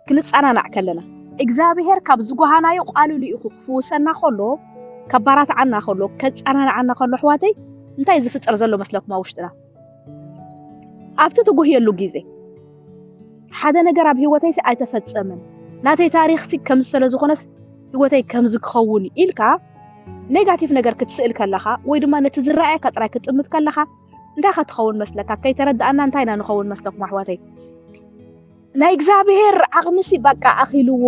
ክንጸናናዕ ከለና፣ እግዝኣብሄር ካብ ዝጎሃናዮ ቃሉ ልኢኹ ክፍውሰና ከሎ፣ ከባራትዓና ከሎ፣ ከጸናንዓና ከሎ ኣሕዋተይ እንታይ ዝፍጠር ዘሎ መስለኩም ኣብ ውሽጥና? ኣብቲ ትጉህየሉ ግዜ ሓደ ነገር ኣብ ህይወተይሲ ኣይተፈጸመን ናተይ ታሪኽሲ ከምዚ ስለ ዝኾነስ ህይወተይ ከምዚ ክኸውን ኢልካ ኔጋቲቭ ነገር ክትስእል ከለኻ ወይ ድማ ነቲ ዝረኣየካ ጥራይ ክትጥምት ከለኻ እንታይ ከ ትኸውን መስለካ ከይተረዳኣና እንታይ ኢና ንኸውን መስለኩም ኣሕዋተይ ናይ እግዚኣብሄር ዓቕሚ ሲ በቃ ኣኺልዎ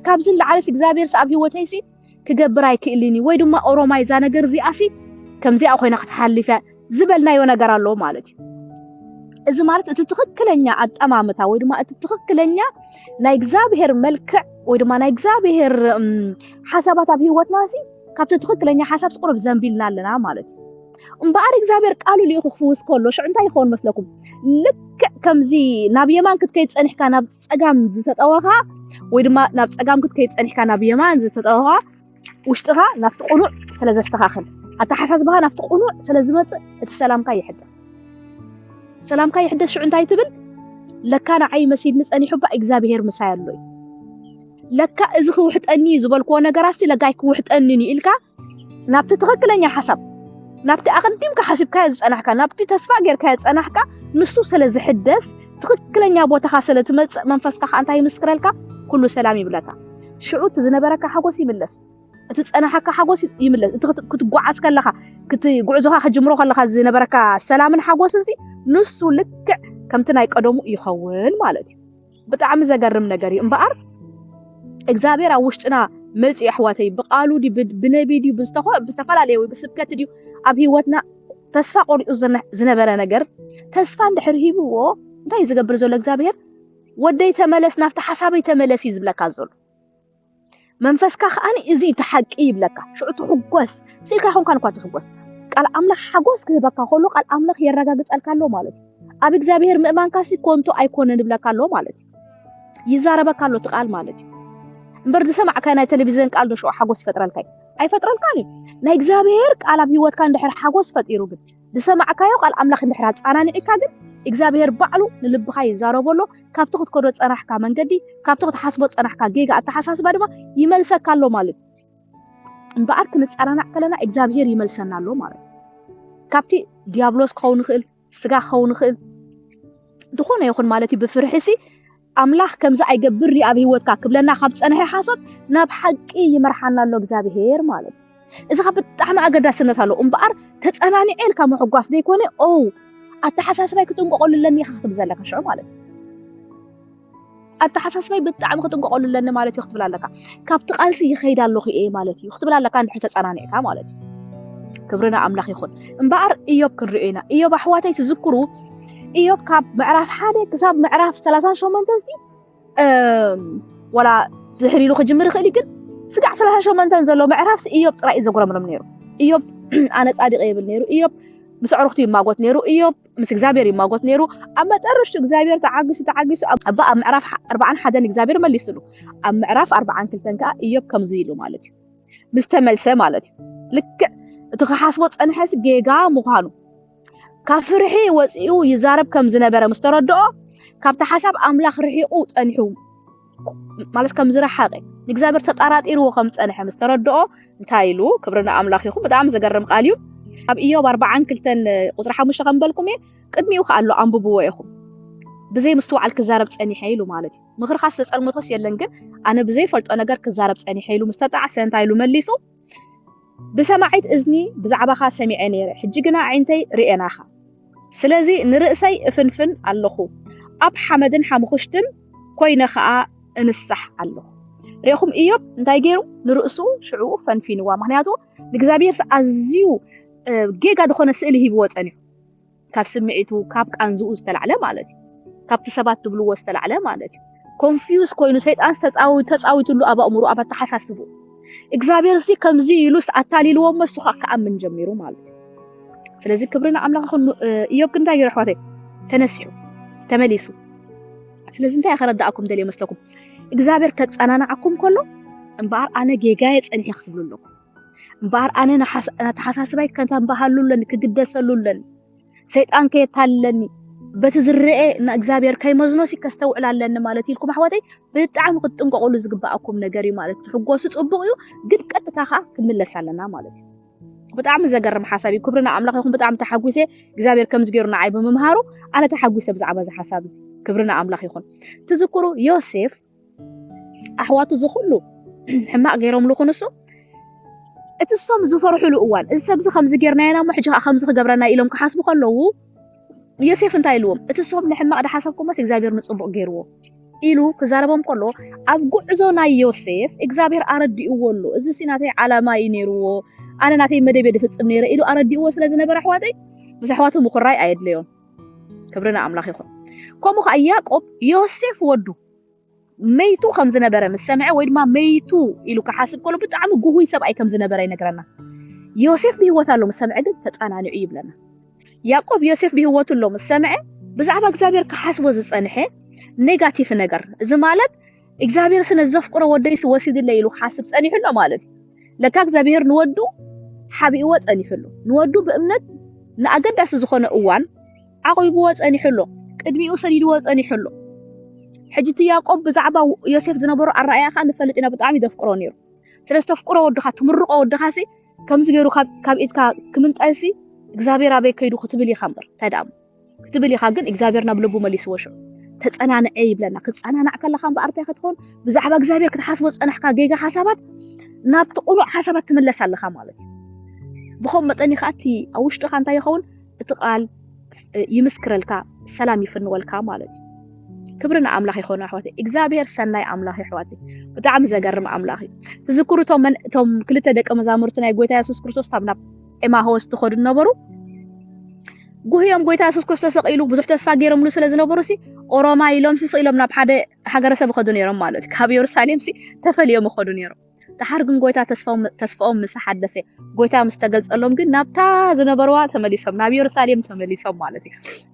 ካብዚ ንላዕሊ ሲ እግዚኣብሄር ሲ ኣብ ሂወተይ ሲ ክገብር ኣይክእልን እዩ ወይ ድማ ኦሮማይ እዛ ነገር እዚኣ ሲ ከምዚኣ ኮይና ክትሓልፍ እያ ዝበልናዮ ነገር ኣሎ ማለት እዩ እዚ ማለት እቲ ትኽክለኛ ኣጠማምታ ወይ ድማ እቲ ትኽክለኛ ናይ እግዚኣብሄር መልክዕ ወይ ድማ ናይ እግዚኣብሄር ሓሳባት ኣብ ሂወትና ሲ ካብቲ ትኽክለኛ ሓሳብ ሲ ቁሩብ ዘንቢልና ኣለና ማለት እዩ እምበኣር እግዚኣብሔር ቃሉ ልኢኹ ክፍውስ ከሎ ሽዑ እንታይ ይኸውን መስለኩም? ልክዕ ከምዚ ናብ የማን ክትከይድ ጸኒሕካ ናብ ጸጋም ዝተጠወኻ ወይ ድማ ናብ ጸጋም ክትከይድ ጸኒሕካ ናብ የማን ዝተጠወኻ ውሽጥኻ ናብቲ ቅኑዕ ስለ ዘስተኻኽል ኣተሓሳስባኻ ናብቲ ቅኑዕ ስለ ዝመጽእ እቲ ሰላምካ ይሕደስ ሰላምካ ይሕደስ ሽዑ እንታይ ትብል ለካ ንዓይ መሲድኒ ጸኒሑ እባ እግዚኣብሄር ምሳይ ኣሎ እዩ ለካ እዚ ክውሕጠኒ ዝበልክዎ ነገራት ለጋይ ክውሕጠኒ ኢልካ ናብቲ ትኽክለኛ ሓሳብ ናብቲ ኣቐዲምካ ሓሲብካዮ ዝጸናሕካ ናብቲ ተስፋ ጌርካዮ ዝጸናሕካ ንሱ ስለ ዝሕደስ ትኽክለኛ ቦታኻ ስለ ትመጽእ መንፈስካ ከዓ እንታይ ይምስክረልካ ኩሉ ሰላም ይብለካ ሽዑ እቲ ዝነበረካ ሓጎስ ይምለስ እቲ ዝጸናሓካ ሓጎስ ይምለስ እቲ ክትጓዓዝ ከለኻ ክቲ ጉዕዞኻ ክጅምሮ ከለኻ ዝነበረካ ሰላምን ሓጎስን ንሱ ልክዕ ከምቲ ናይ ቀደሙ ይኸውን ማለት እዩ ብጣዕሚ ዘገርም ነገር እዩ እምበኣር እግዚኣብሔር ኣብ ውሽጥና መፂኡ ኣሕዋተይ ብቃሉ ድዩ ብነቢይ ድዩ ብዝተፈላለየ ወይ ብስብከት ድዩ ኣብ ሂወትና ተስፋ ቆሪፁ ዝነበረ ነገር ተስፋ እንድሕር ሂብዎ እንታይ ዝገብር ዘሎ እግዚኣብሄር ወደይ ተመለስ ናብቲ ሓሳበይ ተመለስ እዩ ዝብለካ ዘሎ መንፈስካ ከኣ እዚ እቲ ሓቂ ይብለካ ሽዑ ትሕጎስ ስኢልካ ይኮንካን እኳ ትሕጎስ ቃል ኣምላኽ ሓጎስ ክህበካ ከሎ ቃል ኣምላኽ የረጋግጸልካ ኣሎ ማለት እዩ ኣብ እግዚኣብሔር ምእማንካ ሲ ኮንቶ ኣይኮነን ይብለካ ኣሎ ማለት እዩ ይዛረበካ ኣሎ እቲ ቃል ማለት እዩ እምበር ዝሰማዕካ ናይ ቴሌቪዥን ቃል ዶ ሽዑ ሓጎስ ይፈጥረልካ ኣይፈጥረልካን እዩ ናይ እግዚኣብሔር ቃል ኣብ ህይወትካ እንድሕር ሓጎስ ፈጢሩ ግን ዝሰማዕካዮ ቃል ኣምላኽ ምሕራድ ጻናኒዒካ ግን እግዚኣብሄር ባዕሉ ንልብኻ ይዛረቦ ኣሎ ካብቲ ክትከዶ ዝጸናሕካ መንገዲ ካብቲ ክትሓስቦ ዝጸናሕካ ጌጋ ኣተሓሳስባ ድማ ይመልሰካ ኣሎ ማለት እዩ እምበኣር ክንጸናናዕ ከለና እግዚኣብሄር ይመልሰና ኣሎ ማለት እዩ ካብቲ ዲያብሎስ ክኸውን ይኽእል ስጋ ክኸውን ይኽእል ዝኾነ ይኹን ማለት እዩ ብፍርሒ ሲ ኣምላኽ ከምዚ ኣይገብር ድዩ ኣብ ህይወትካ ክብለና ካብ ዝጸንሐ ሓሶት ናብ ሓቂ ይመርሓና ኣሎ እግዚኣብሄር ማለት እዩ። እዚ ኸ ብጣዕሚ ኣገዳስነት ኣለዎ እምበኣር ተጸናኒዐ ኢልካ ምሕጓስ ዘይኮነ ኦ ኣተሓሳስባይ ክጥንቀቐሉ ኣለኒ ኢኻ ክትብል ዘለካ ሽዑ ማለት እዩ ኣተሓሳስባይ ብጣዕሚ ክጥንቀቐሉ ኣለኒ ማለት እዩ ክትብል ኣለካ ካብቲ ቃልሲ ይኸይድ ኣለኹ እየ ማለት እዩ ክትብል ኣለካ እንድሕር ተጸናኒዕካ ማለት እዩ ክብሪ ንኣምላኽ ይኹን እምበኣር እዮብ ክንሪኦ ኢና እዮብ ኣሕዋተይ ትዝክሩ ኢዮብ ካብ ምዕራፍ ሓደ ክሳብ ምዕራፍ ሰላሳን ሸሞንተን ሲ ወላ ድሕሪ ኢሉ ክጅምር ይኽእል ግን ስጋዕ ሰላሳን ሸሞንተን ዘሎ ምዕራፍ ኢዮብ ጥራይ እዩ ዘጉረምርም ነይሩ ኢዮብ ኣነ ጻድቅ የብል ነይሩ ኢዮብ ምስ ኣዕሩኽቱ ይማጎት ነይሩ ኢዮብ ምስ እግዚኣብሔር ይማጎት ነይሩ ኣብ መጠርሽቱ እግዚኣብሔር ተዓጊሱ ተዓጊሱ እባ ኣብ ምዕራፍ ኣርባዓን ሓደን እግዚኣብሔር መሊስሉ ኣብ ምዕራፍ ኣርባዓን ክልተን ከዓ ኢዮብ ከምዚ ኢሉ ማለት እዩ ምስተመልሰ ማለት እዩ ልክዕ እቲ ክሓስቦ ፀንሐስ ጌጋ ምዃኑ ካብ ፍርሒ ወጺኡ ይዛረብ ከም ዝነበረ ምስ ተረድኦ ካብቲ ሓሳብ ኣምላኽ ርሒቑ ጸኒሑ ማለት ከም ዝረሓቐ ንእግዚኣብሔር ተጠራጢርዎ ከም ዝጸንሐ ምስ ተረድኦ እንታይ ኢሉ ክብሪ ንኣምላኽ ይኹን ብጣዕሚ ዘገርም ቃል እዩ ኣብ ኢዮብ ኣርባዓን ክልተን ቁፅሪ ሓሙሽተ ከም በልኩም እየ ቅድሚኡ ከዓ ኣሎ ኣንብብዎ ኢኹም ብዘይ ምስትውዓል ክዛረብ ጸኒሐ ኢሉ ማለት እዩ ምኽርኻ ዝተጸልመቶስ የለን ግን ኣነ ብዘይፈልጦ ነገር ክዛረብ ጸኒሐ ኢሉ ምስ ተጣዕሰ እንታይ ኢሉ መሊሱ ብሰማዒት እዝኒ ብዛዕባኻ ሰሚዐ ነይረ፣ ሕጂ ግና ኣዒንተይ ርእየናኻ። ስለዚ ንርእሰይ እፍንፍን ኣለኹ፣ ኣብ ሓመድን ሓሙኽሽትን ኰይነ ኸኣ እንሳሕ ኣለኹ። ርኤኹም፣ እዮብ እንታይ ገይሩ? ንርእሱ ሽዑ ፈንፊንዋ፣ ምኽንያቱ ንእግዚኣብሄርሲ ኣዝዩ ጌጋ ዝዀነ ስእሊ ሂብዎ ጸኒሑ። ካብ ስምዒቱ ካብ ቃንዝኡ ዝተላዕለ ማለት እዩ። ካብቲ ሰባት ዝብልዎ ዝተላዕለ ማለት እዩ። ኮንፊውዝ ኮይኑ ሰይጣን ተጻዊትሉ ኣብ ኣእምሮ ኣብ ኣተሓሳስቡ እግዚኣብሔርሲ ከምዚ ኢሉስ ኣታሊልዎ እሞ እሱ ከዓ ክኣምን ጀሚሩ ማለት እዩ። ስለዚ ክብሪ ንኣምላኽ ይኹን። እዮብ ግን እንታይ ገይሩ ኣሕዋተይ? ተነሲሑ ተመሊሱ። ስለዚ እንታይ ከረዳእኩም ደልየ መስለኩም? እግዚኣብሔር ከጸናናዓኩም ከሎ እምበኣር ኣነ ጌጋየ ጸኒሐ ክትብሉ ኣለኩም። እምበኣር ኣነ ኣተሓሳስባይ ከተንባሃሉለን ክግደሰሉለን ሰይጣን ከየታልለኒ በቲ ዝረአ ንእግዚኣብሔር ከይመዝኖ ሲ ከስተውዕል ኣለኒ ማለት ኢልኩም ኣሕዋተይ ብጣዕሚ ክትጥንቀቁሉ ዝግባኣኩም ነገር እዩ ማለት ትሕጎሱ ፅቡቅ እዩ ግን ቀጥታ ከዓ ክንምለስ ኣለና ማለት እዩ ብጣዕሚ ዘገርም ሓሳብ እዩ ክብሪ ንኣምላኽ ይኹን ብጣዕሚ ተሓጒሰ እግዚኣብሔር ከምዚ ገይሩ ንዓይ ብምምሃሩ ኣነ ተሓጒሰ ብዛዕባ እዚ ሓሳብ እዚ ክብሪ ንኣምላኽ ይኹን ትዝክሩ ዮሴፍ ኣሕዋቱ እዚ ኩሉ ሕማቅ ገይሮምሉ ክንሱ እቲ ሶም ዝፈርሕሉ እዋን እዚ ሰብዚ ከምዚ ጌርናዮ ናሞ ሕጂ ከዓ ከምዚ ክገብረና ኢሎም ክሓስቡ ከለዉ ዮሴፍ እንታይ ኢልዎም እቲ ሶም ንሕማቅ ድሓሰብኩሞስ እግዚኣብሔር ንጽቡቅ ገይርዎ ኢሉ ክዛረቦም ከሎ ኣብ ጉዕዞ ናይ ዮሴፍ እግዚኣብሔር ኣረዲእዎ ኣሎ እዚ ሲ ናተይ ዓላማ እዩ ነይርዎ ኣነ ናተይ መደብ ድፍጽም ነይረ ኢሉ ኣረዲእዎ ስለ ዝነበረ ኣሕዋተይ ምስ ኣሕዋቱ ምኩራይ ኣየድለዮን ክብሪ ንኣምላኽ ይኹን። ከምኡ ከዓ ያዕቆብ ዮሴፍ ወዱ መይቱ ከም ዝነበረ ምስ ሰምዐ ወይ ድማ መይቱ ኢሉ ክሓስብ ከሎ ብጣዕሚ ጉሁይ ሰብኣይ ከም ዝነበረ ይነግረና። ዮሴፍ ብህይወት ኣሎ ምስ ሰምዐ ግን ተጸናኒዑ ይብለና። ያዕቆብ ዮሴፍ ብህይወቱ ኣሎ ምስ ሰምዐ ብዛዕባ እግዚኣብሔር ክሓስቦ ዝጸንሐ ኔጋቲቭ ነገር እዚ ማለት እግዚኣብሔር ስለ ዘፍቅሮ ወደይስ ወሲድለ ኢሉ ሓስብ ጸኒሑ ኣሎ ማለት እዩ። ለካ እግዚኣብሔር ንወዱ ሓቢእዎ ጸኒሑ ኣሎ። ንወዱ ብእምነት ንኣገዳሲ ዝኾነ እዋን ዓቂብዎ ጸኒሑ ኣሎ። ቅድሚኡ ሰዲድዎ ጸኒሑ ኣሎ። ሕጂ እቲ ያዕቆብ ብዛዕባ ዮሴፍ ዝነበሮ ኣረኣያ ከዓ ንፈልጥ ኢና ብጣዕሚ ዘፍቅሮ ነይሩ። ስለ ዝተፍቅሮ ወድኻ ትምርቆ ወድኻ ሲ ከምዚ ገይሩ ካብ ኢድካ ክምንጠልሲ እግዚኣብሔር ኣበይ ከይዱ ክትብል ኢኻ እምበር እንታይ ደኣ ክትብል ኢኻ ግን እግዚኣብሔር ናብ ልቡ መሊስዎ ሽዑ ተጸናንዐ ይብለና ክትጸናናዕ ከለኻ እምበኣር እንታይ ክትኾን ብዛዕባ እግዚኣብሔር ክትሓስቦ ዝጸናሕካ ጌጋ ሓሳባት ናብቲ ቁኑዕ ሓሳባት ትምለስ ኣለኻ ማለት እዩ ብኸም መጠን ይኸዓ እቲ ኣብ ውሽጥኻ እንታይ ይኸውን እቲ ቃል ይምስክረልካ ሰላም ይፍንወልካ ማለት እዩ ክብሪ ንኣምላኽ ይኾኑ ኣሕዋት እግዚኣብሄር ሰናይ ኣምላኽ ኣሕዋት ብጣዕሚ ዘገርም ኣምላኽ እዩ ትዝክሩ እቶም ክልተ ደቂ መዛሙርቲ ናይ ጎይታ የሱስ ክርስቶስ ካብ ናብ ኤማሆስ ትኸዱ ነበሩ ጉህዮም ጎይታ የሱስ ክርስቶስ ሰቂሉ ብዙሕ ተስፋ ገይሮምሉ ስለ ዝነበሩሲ ኦሮማይ ኢሎምሲ ስኢሎም ናብ ሓደ ሃገረሰብ ይኸዱ ነይሮም ማለት ካብ የሩሳሌምሲ ተፈልዮም ይኸዱ ነይሮም። ድሓር ግን ጎይታ ተስፋኦም ምስ ሓደሰ ጎይታ ምስ ተገልጸሎም ግን ናብታ ዝነበርዋ ተመሊሶም ናብ የሩሳሌም ተመሊሶም ማለት እዩ።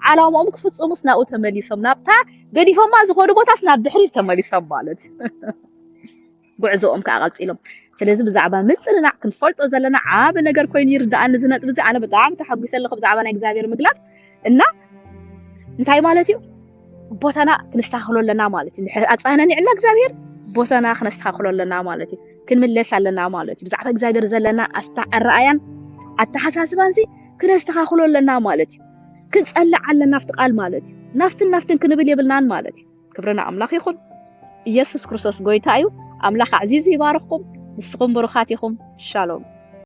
ዓላማኦም ክፍጽሙስ ናብኡ ተመሊሶም ናብታ ገዲፎማ ዝኸዱ ቦታስ ናብ ድሕሪት ተመሊሶም ማለት እዩ። ጉዕዞኦም ከኣ ቀጺሎም። ስለዚ ብዛዕባ ምጽንናዕ ክንፈልጦ ዘለና ዓቢ ነገር ኮይኑ ይርድኣኒ እዚ ነጥቢ እዚ ኣነ ብጣዕሚ ተሓጒሰ ኣለኹ ብዛዕባ ናይ እግዚኣብሔር ምግላጽ እና እንታይ ማለት እዩ ቦታና ክንስተኻኽሎ ኣለና ማለት እዩ ድሕሪ ኣጻነኒዕና እግዚኣብሔር ቦታና ክነስተኻኽሎ ኣለና ማለት እዩ ክንምለስ ኣለና ማለት እዩ ብዛዕባ እግዚኣብሔር ዘለና ኣስታ ኣረኣያን ኣተሓሳስባን ሲ ክነስተኻኽሎ ኣለና ማለት እዩ ክንጸልዕ ኣለና ኣብቲ ቃል ማለት እዩ ናፍትን ናፍትን ክንብል የብልናን ማለት እዩ ክብሪ ንኣምላኽ ይኹን። ኢየሱስ ክርስቶስ ጎይታ እዩ። ኣምላኽ ኣዕዚዙ ይባርኽኩም። ንስኹም ብሩኻት ኢኹም። ሻሎም።